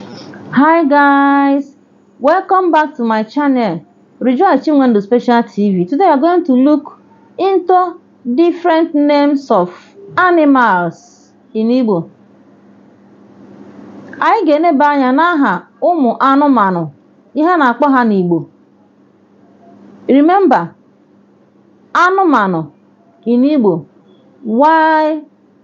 Hi guys, welcome back to my channel Rejoice Chinwendu Special TV. Today we are going to look into different names of animals in Igbo. Anyị ga-eneba anya n'aha ụmụ anụmanụ ihe a na-akpọ ha n'Igbo. Remember, anụmanụ in Igbo. Why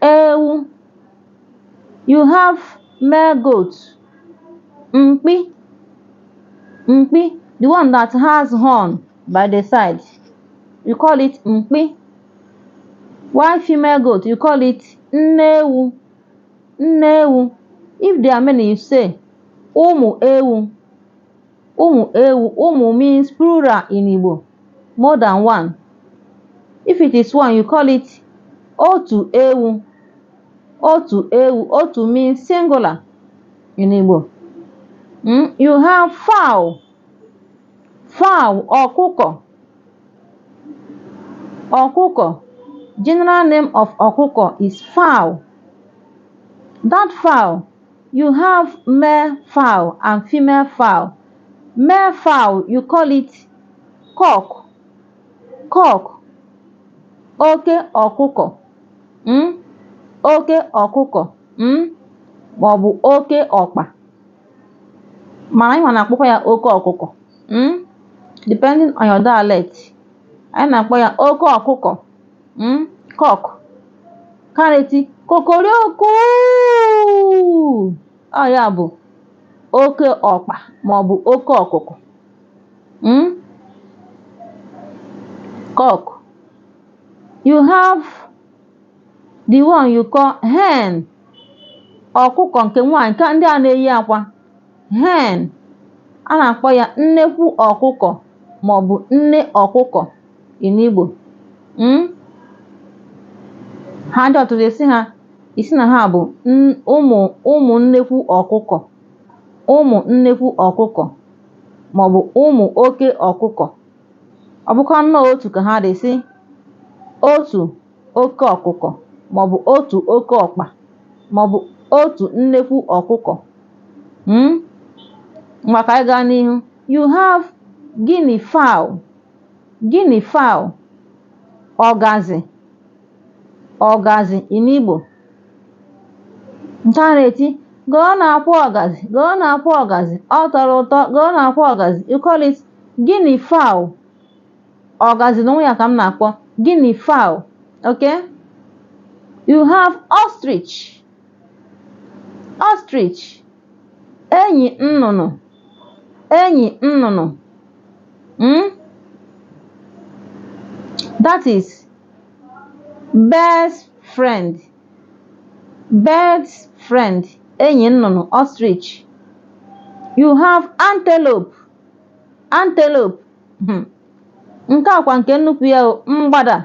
ewu you have male goat mkpi mkpi the one that has horn by the side you call it mkpi why female goat you call it nne ewu nne ewu if there are many you say ụmụ ewu Ụmụ ewu, ụmụ means plural in Igbo, more than one. If it is one, you call it otu ewu. Otu ewu, otu means singular in Igbo. Mm? You have fowl. Fowl, ọkụkọ. Ọkụkọ. General name of ọkụkọ is fowl. That fowl You have male fowl and female fowl. Male fowl, you call it cock. Cock, oke ọkụkọ. Mm? Oke ọkụkọ. Mm? Ma ọ bụ oke ọkpa. Mana anyịwa na-akpọkwa ya oke ọkụkọ. Mm? Depending on your dialect. Anyị na-akpọ ya oke ọkụkọ. mm cock ka na-eti kokorioku ọ ya bụ oke ọkpa maọbụ oke ọkụkụ mm cock you have the one you call hen ọkụkọ nke nwaanyị nke ndị a na-eyi akwa hen a na-akpọ ya nnekwu ọkụkọ maọbụ nne ọkụkọ in Igbo mm? ha dị ọtụtụ ị sị ha ị sị na ha bụ ụmụ ụmụ nnekwu ọkụkọ ụmụ nnekwu ọkụkọ maọbụ ụmụ oke ọkụkọ ọ bụkwa nnọọ otu ka ha dị ị sị otu oke ọkụkọ maọbụ otu oke ọkpa maọbụ otu nnekwu ọkụkọ mm ngwa ka anyị gaa n'ihu you have guinea fowl guinea fowl ọgazị ọgazị in Igbo nke a na-eti goonu akwa ọgazị goonu akwa ọgazị ọ tọrọ ụtọ goonu akwa ọgazị you call it guinea fowl ọgazi n'onwe ya ka m na-akpọ guinea fowl okay you have ostrich ostrich enyi nnụnụ enyi nnụnụ mm? that is bird friend bird friend enyi nnụnụ ostrich you have antelope antelope Hmm. nke a kwa nke nnukwu ya mgbada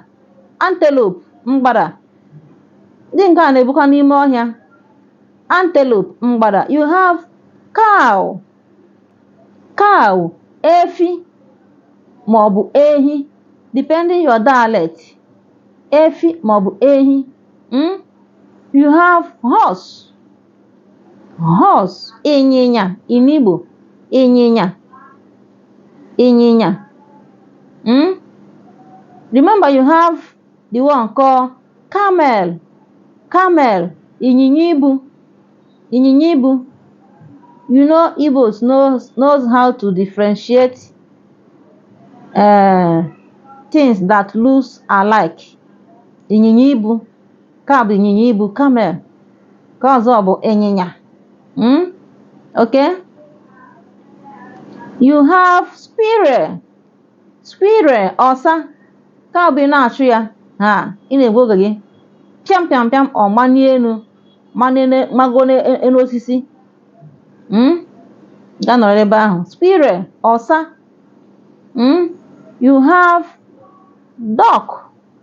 antelope mgbada ndị nke a na-ebukwa n'ime ọhịa antelope mgbada you have cow cow efi ma ọ bụ ehi depending your dialect efi ma ọ bụ ehi hmm? you have horse horse ịnyịnya in Igbo ịnyịnya ịnyịnya mm? remember you have the one called camel camel ịnyịnya ibu ịnyịnya ibu you know Igbos knows, knows how to differentiate uh, things that looks alike ịnyịnya ibu Nke a bụ ịnyịnya ibu, camel. Nke ọzọ bụ ịnyịnya. Mm? Okay? You have squirrel. Squirrel, ọsa. Nke a bụ ị na-achụ ya. Ha, ị na-egbu oge gị. Pịam pịam pịam, ọ manie enu. Manie ne- mago n'enu osisi. Mm? Gaa nọrọ ebe ahụ. Squirrel, ọsa. Mm? You have duck.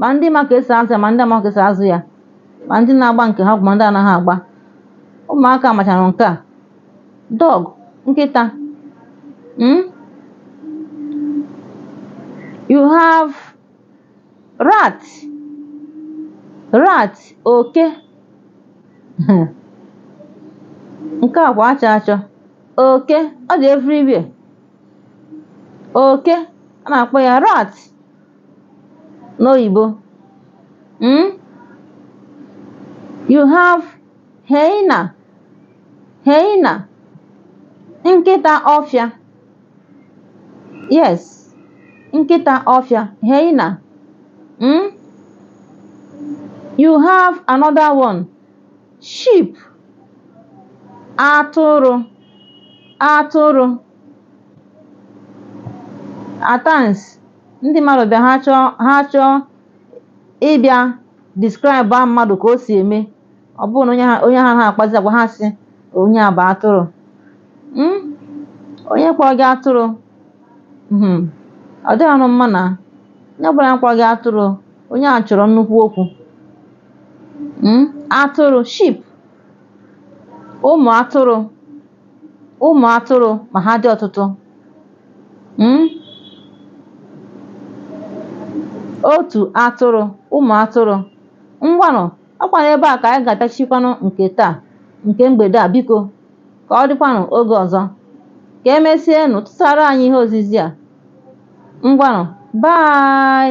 ma ndị ma ka esi azụ ya ma ndị amaghị ka esi azụ ya ma ndị na-agba nke ha ọgwụ ma ndị anaghị agba ụmụaka machara nke a dog nkịta mm? you have rat rat oke nke a kwa achọ achọ oke ọ dị everywhere oke a na-akpọ ya rat n'oyibo mm? you have hyena hyena nkịta ọfịa yes nkịta ọfịa hyena mm? you have another one sheep atụrụ atụrụ at times ndị mmadụ bịa ha chọọ ha chọọ ịbịa describe a mmadụ ka o si eme ọ bụrụ na onye ha onye ha ha akpazi agwa ha sị onye a bụ atụrụ Mm? onye kpọọ gị atụrụ Mhm. ọ dịghịnụ mma na onye ọbụla kpọrọ gị atụrụ onye a chọrọ nnukwu okwu Mm? atụrụ sheep ụmụ atụrụ ụmụ atụrụ ma ha dị ọtụtụ mm, otu atụrụ ụmụ atụrụ ngwanụ ọkwanụ ebe a ka anyị ga-atachikwanụ nke taa nke mgbede a biko ka ọ dịkwanụ oge ọzọ ka emesienụ tụsara anyị ihe ozizi a ngwanụ bye